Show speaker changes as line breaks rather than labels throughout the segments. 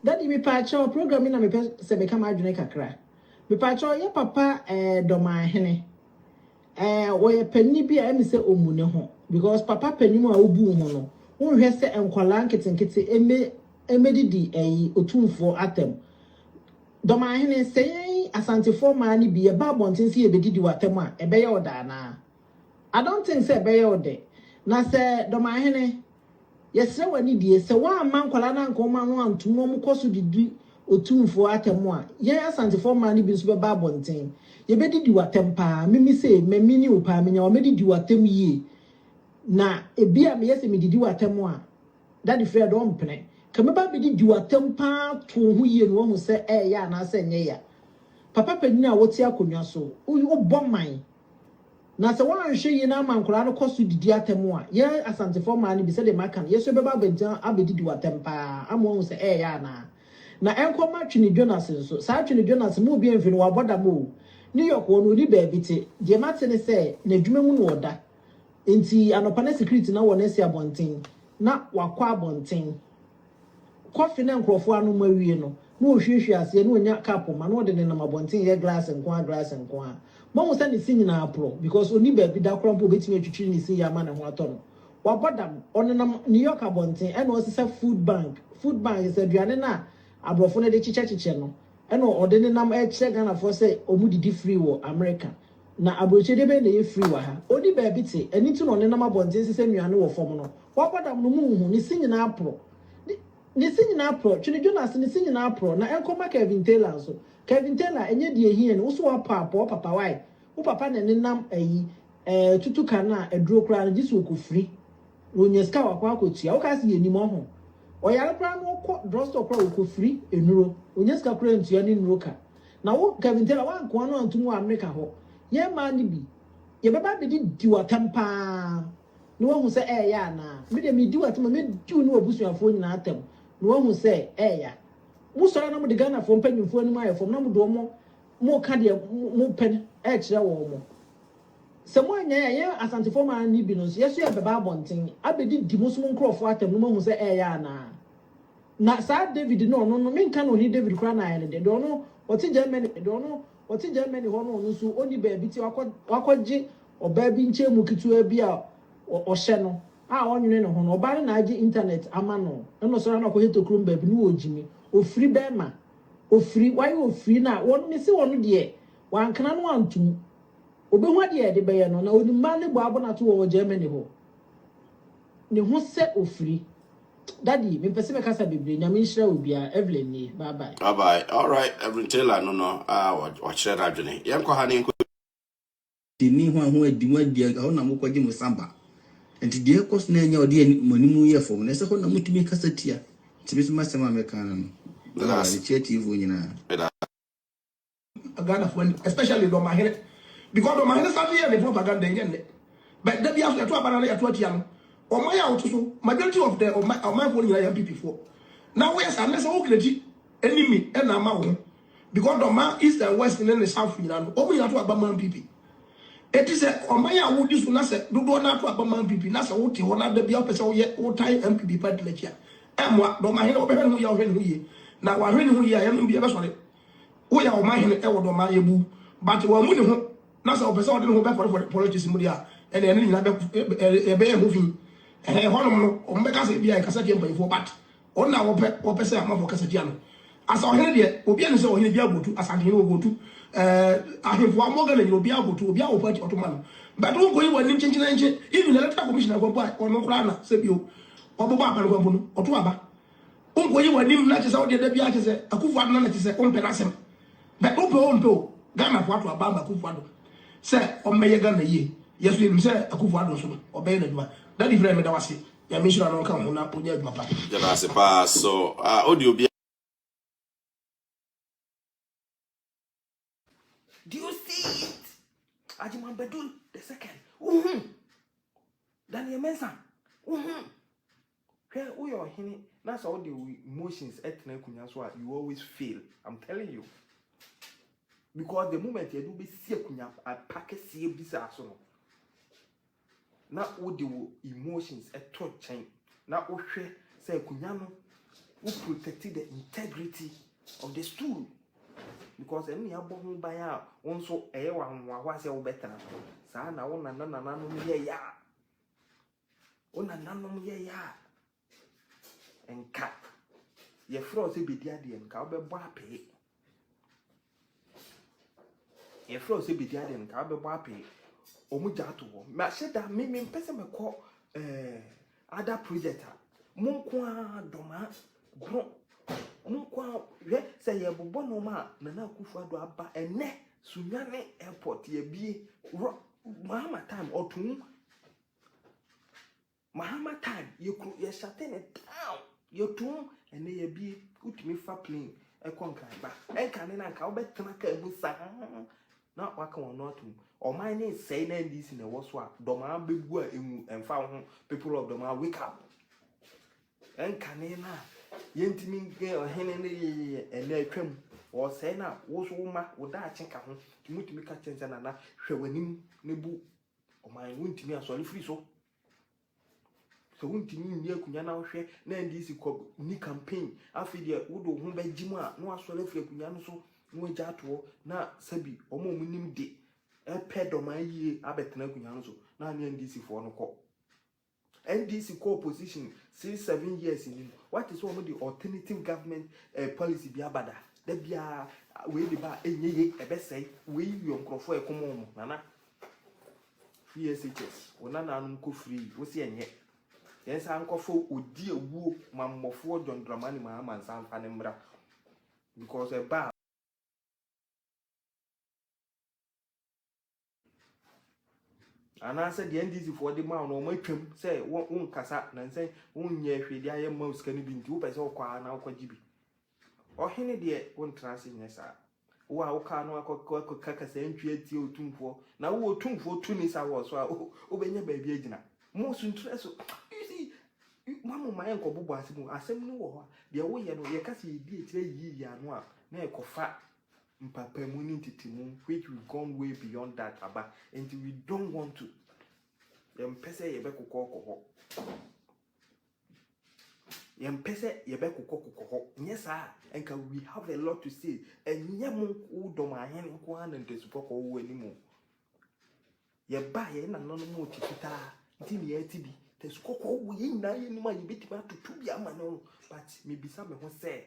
Daddy mepaakyɛw program yi na mepɛ sɛ meka m'adwene kakra. Mepaakyɛw yɛ papa eh, Dɔmanhene eh, wɔyɛ panyin bi a ɛmi sɛ ɔmmu ne ho because papa panyin mu a wobu ho no wonhwɛ sɛ nkwadaa nketenkete ɛmɛ ɛmɛdidi ɛyi otumfoɔ atɛm. Dɔmahene, sɛ yɛn Asantefoɔ mmaa no bi yɛba abɔnten sɛ yɛbɛdidi w'atɛm a, ɛbɛyɛ wo dɛ anaa? I don't think sɛ ɛbɛyɛ wo dɛ. Na sɛ, Dɔmahene, yɛsrɛ w'anidie, sɛ woamma nkwadaa no anka wɔn ano antom na wɔkɔ so didi Otumfoɔ atɛm a, yɛn Asantefoɔ mmaa no bi nso bɛba abɔnten. Yɛbɛdidi w'atɛm pa ara. Me me sei, me me ne wo pa ara menya wo a, mɛdidi w'atɛm yie. Na ebia meyɛ sɛ medidi w'atɛm a, Daddy Fred ɔmpene. Ka mɛba abɛdi Gyu atɛm paa too ho yie na wahu sɛ ɛɛya anaasɛ ɛnyɛ ya. Papa panin a wote akonnwa so, wo bɔ man. Na sɛ woanhwɛ yie na ama nkwadaa no kɔ so didi atɛm a, yɛn Asantefoɔ mmaa no bi sɛdeɛ maka no, yɛn nso yɛbɛba abɛgyina abɛdi Gyu atɛm paa ama wahu sɛ ɛɛya anaa. Na ɛnkɔ mma Twene Jonas nso. Saa Twene Jonas, mo obiara mfiri no, wabɔ dam o. New York hɔ no, ɔnni baabi te. Deɛ mate ne sɛ, n'adwuma mu na ɔda. Enti anɔpa na security na wɔn asi abɔnten na wakɔ abɔnten. Kɔfe na nkurɔfoɔ anom awie no, na ɔhwiehwie aseɛ, na ɔnya cup ma, na ɔde nenam abɔnten yɛ glass nko ara, glass nko ara. Moahu sɛ ne se nyinaa aporɔ because ɔnni baabi da koraa mpo a ɔbɛtumi atwitwiri ne se yi ama ne ho atɔ no. Wabɔ dam. Ɔnenam New York abɔnten ɛna ɔresesa food bank, food bank is aduane no a aborɔfo no de kyekyɛkyekyɛ no, ɛna ɔde nenam rekyerɛ Ghanafoɔ sɛ wɔdidi free wɔ America. Na aburokyɛdeɛ bɛn na ɛyɛ free wɔ ha? Ɔnni baabi te, ɛno nti na ɔnenam abɔnten sesɛ nnuane no wɔ fam no. Wabɔ dam no, monhu? Ne se nyinaa porɔ. Ne, ne se nyinaa porɔ. Twe no dwo no ase, ne se nyinaa porɔ. Na ɛnkɔ mma Kevin Taylor nso. Kevin Taylor, ɛnyɛ deɛ ɛhia ni. Wo so woapɔ a, pɔ papa, wai? Wo papa na ɛnenam ayi, ɛɛ, tutuka no a, aduro koraa no, gye sɛ ɔkɔfiri. Onya sika wakɔ akɔtua wokaa se yɛnim ɔho ɔyare koraa na ɔkɔ drugstore koraa ɔkɔfiri nnuro ɔnya sika koraa ntua ne nnuro ka na wo Kevin Taylor woanko ano antom wɔ Amerika hɔ yɛn mmaa no bi yɛbɛba abɛdi di w'atɛm paa na wahu sɛ ɛɛya anaa me deɛ medi w'atɛm a mɛdi wo ne w'abusuafoɔ nyinaa atɛm na wahu sɛ ɛɛya mosɔre na mode Ghanafoɔ mpanyimfoɔ anim ayɛ fam na mode wɔn moka deɛ mopɛ no ɛkyerɛ wɔn mo Sɛ moannyae a, yɛn Asantefoɔ man no bi no nso, yɛn nso yɛbɛba abɔnten abɛdidi mo nso mo nkurɔfoɔ atɛm na moahu sɛ ɛreyɛ anaa. Na saa David no, ɔno no, menka no Ɔhene David koraa na ayɛ no dɛ. Deɛ ɔno, ɔte Germany, deɛ ɔno, ɔte Germany hɔ no, ɔno nso ɔnni baabi te, wakɔ, wakɔgye ɔbaa bi nkyɛnmu ketewaa bi a ɔ, ɔhyɛ no a ɔnwene ne ho no. Ɔbaa no na agye internet ama no. Ɛnna ɔsɔre ara na ɔkɔyɛ tokurom baabi na ɔregyimi. Ofiri bɛrima. Ofiri, wayɛ ofiri na wɔn, mese wɔn deɛ, Wankena no anto mu. Obehu ade a ɛde bɛyɛ no, na onim mmaa ne bɔ abonato wɔ wɔ Germany hɔ. Ne ho sɛ ofiri. Daddy, mempɛ sɛ mɛkasa bebree. Nyame nhyira obiara. Evelyn nie. Bye bye. Bye bye. Alright, Rev.
Taylor no no a wakyerɛ n'adwene. Yɛnkɔ ha na yɛnkɔ.
Nni ho a ho adi mo adi a hɔ na mo kɔgye mo sa ba. Nti deɛ ɛkɔ so no ɛnyɛ ɔde yɛ mo anim yɛ fam no ɛsɛ hɔ na mo tumi kasa tia. Nti me nso m'asɛm a mɛka ano no, Awurade kyerɛ atiefoɔ nyinaa.
Ghana fo ani especially Dɔmahene because Dɔmahene sáré yɛ ne propaganda ɛnyɛ nnɛ but dabi aso yɛto aba na yɛto atia no ɔman a ɔto so majority of the ɔman ɔmanfoɔ no nyinaa yɛ NPP foɔ na woyɛ saa ne sɛ wo kreti enemy ɛna ama wo ho because Dɔma east and west ne ne south nyinaa no wɔn nyinaa to aba ma NPP eti sɛ ɔman a wodi so na sɛ dodoɔ na ato aba ma NPP na sɛ wote hɔ na dabi a wopɛ sɛ woyɛ wotan NPP party n'akyi a ɛmoa Dɔmahene wɔbɛhwɛ ne ho yie a wɔhwɛ ne ho yie na wɔahwɛ ne ho yie a yɛn no bi ɛbɛsɔre. Woyɛ ɔman hene ɛwɔ do ɔman yɛbu but wammu ne ho na sɛ ɔpɛ sɛ ɔde ne ho bɛpɔrepɔre politics mu deɛ a ɛnna ɛne ne nyinaa bɛ ɛbɛyɛ ɛho fi ɛhɛ ɛhɔnom no wɔn bɛka sɛ ebi a nkasa tia mpanyinfoɔ but wɔn na wɔpɛ wɔpɛ sɛ amanfoɔ kasa tia no asa ɔhene deɛ obi ɛne sɛ ɔhene bi agotu asante hene ogotu ɛɛ ahemfo amɔ gana nyina obi agotu obi awɔ party ɔtoma no but wɔn kɔ yi wɔn anim kyenkyerenkye even electoral commission akɔmpo a ɔno koraa na sɛ bio ɔbɛbɔ aba no kɔmpo no ɔto aba Wonkɔyi w'anim na kyesɛ wodeɛ da biara kyesɛ Akufo Addo no na kyesɛ wompɛ n'asɛm. But wopɛ o wompɛ o Ghana fo ato aba ama Akufo Addo sɛ ɔmmɛyɛ Ghana yie. Yɛ so yɛnim sɛ Akufo Addo nso no ɔbɛyɛ n'adwuma. Daddy Fre meda wo ase. Nyame nhyira no nka wo ho na ɔnya adwuma pa. Yɛda ase paa
so a ode obiara.
Do you see it? Ajimambedul the second. Uhum. Daniel Mensah. Uhum. Hwɛ woyɛ ɔhene na sɛ wode wo emotions ɛtena akonnwa so a you always fail. I'm telling you. Because the moment yɛde wobɛsi akonnwa apa kɛseɛ bi saa so no na wode wo emotions to nkyɛn na wohwɛ sɛ akonnwa no wo protect the integrity of the stool because ɛne yɛabɔ ho ban a wo nso ɛyɛ w'ahohoahoa sɛ wobɛtena so saa na wo nana nananom yɛyɛ a wo nananom yɛyɛ a Nka yɛfrɛ wo sɛ bɛdi adeɛ nka wobɛbɔ apee. Yɛfrɛ wo sɛ bɛdi adeɛ nka wobɛbɔ apee. Wɔn gya ato hɔ. Mahyɛ da me me mpɛ sɛ mɛkɔ ɛɛ eh, ada project a mo nko ara dɔmaa goro mo nko ara hwɛ sɛ yɛbobɔ nneɛma a nana akufo ado aba ɛnɛ sunyane airport yɛbie rɔ mahama time ɔtum Mahama time yɛ kuro yɛ shate ne down yɛ tum ɛnɛ yɛ bie wotumi fa plane ɛkɔ nkran ba ɛnka ne na nka wobɛtena kaa mu saa na waka wɔn no atum ɔman ne nsɛe na ndc na ɛwɔ so a dɔmaa bɛbu a ɛnwu ɛmfa wo ho people of dɔmaa wake up ɛnka ne na yɛntumi nkɛ ɔhene ne yɛyɛ ɛnɛ atwa mu ɔsɛe na wo so wo ma wo daakye ka ho tumi tumi ka kyɛn sɛ nana hwɛ w'anim ne bu Ɔman no ntumi asɔre firi so. Sɛ wontumi nni akonnwa na wohwɛ na NDC kɔ ni campaign afei deɛ wode wo ho bɛgye mu a na wasɔre afiri akonnwa no so na wagya atoɔ na sɛbi wɔn a wɔnim de ɛpɛ dɔmaa yie abɛtena akonnwa no so na ne NDC foɔ no kɔ. NDC kɔ opposition since seven years ni no wate sɛ wɔn de alternative government eh, policy bi aba da da biara wei de ba enye ye ɛbɛsɛe wei yɛ nkorɔfoɔ a ɛkɔm wɔn nana free SHS wɔn nanaanom kɔ free wosi ɛnyɛ yɛn san nkɔfo odi ewuo ma mmɔfoɔ John Dramani Mahama nsan fa ne mmra because ɛbaa anaasɛ deɛ ndc foɔ de maa no wɔn atwam sɛ wɔn wɔn nkasa na nsɛ wɔn nyɛ hwee de ayɛ mma wo sika no bi nti wopɛ sɛ ɔkɔ ara na ɔkɔgye bi ɔhene deɛ wontena ase nyɛ saa wo a wokaa no akɔka kasa ntwi atie otumfoɔ na wo otumfoɔ tu ne sa wɔ so a wobɛnya baabi agyina mo so ntura so you see mamu ma yɛnkɔbobɔ ase mu asɛm no wɔ hɔ a deɛ woyɛ no yɛka sɛ yɛdi akyirɛ yiyi ano a na ɛkɔfa mpapamu ne ntetemu which we've gone way beyond that aba nti we don't want to yɛmpɛ sɛ yɛbɛkokɔ kɔ hɔ yɛmpɛ sɛ yɛbɛkokɔ kokɔ hɔ nyɛ saa nka we have a lot to say ɛnyɛ mo wo dɔm ahene nko ara na ntasukɔ kɔ wo anim o yɛba yɛn nananom wɔ ti fitaa nti ne yɛte bi tasukɔ kɔ wo yɛ nyinaa yɛ nim a yɛbɛtumi atoto bi ama no but mebisa me ho sɛ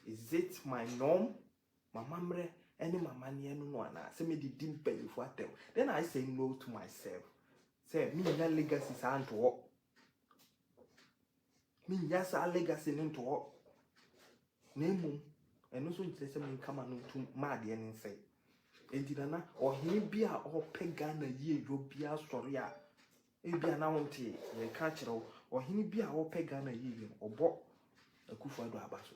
Is it my norm? M'amammerɛ ne m'amanneɛ no no anaa? Sɛ mede di mpanyimfo atɛm? Then I say no to myself. Sɛ mennya legacy saa nto hɔ. Mennya saa legacy no nto hɔ. Na mmom, ɛno nso nkyerɛ sɛ menka ma no ntom ma adeɛ no nsɛe. Enti nana, ɔhene bi a ɔpɛ Ghana yieyɔ biara sɔre a, Ebia na wontee yɛreka akyerɛ wo, ɔhene bi a ɔpɛ Ghana yiye no, ɔbɔ Akuffo Addo aba so.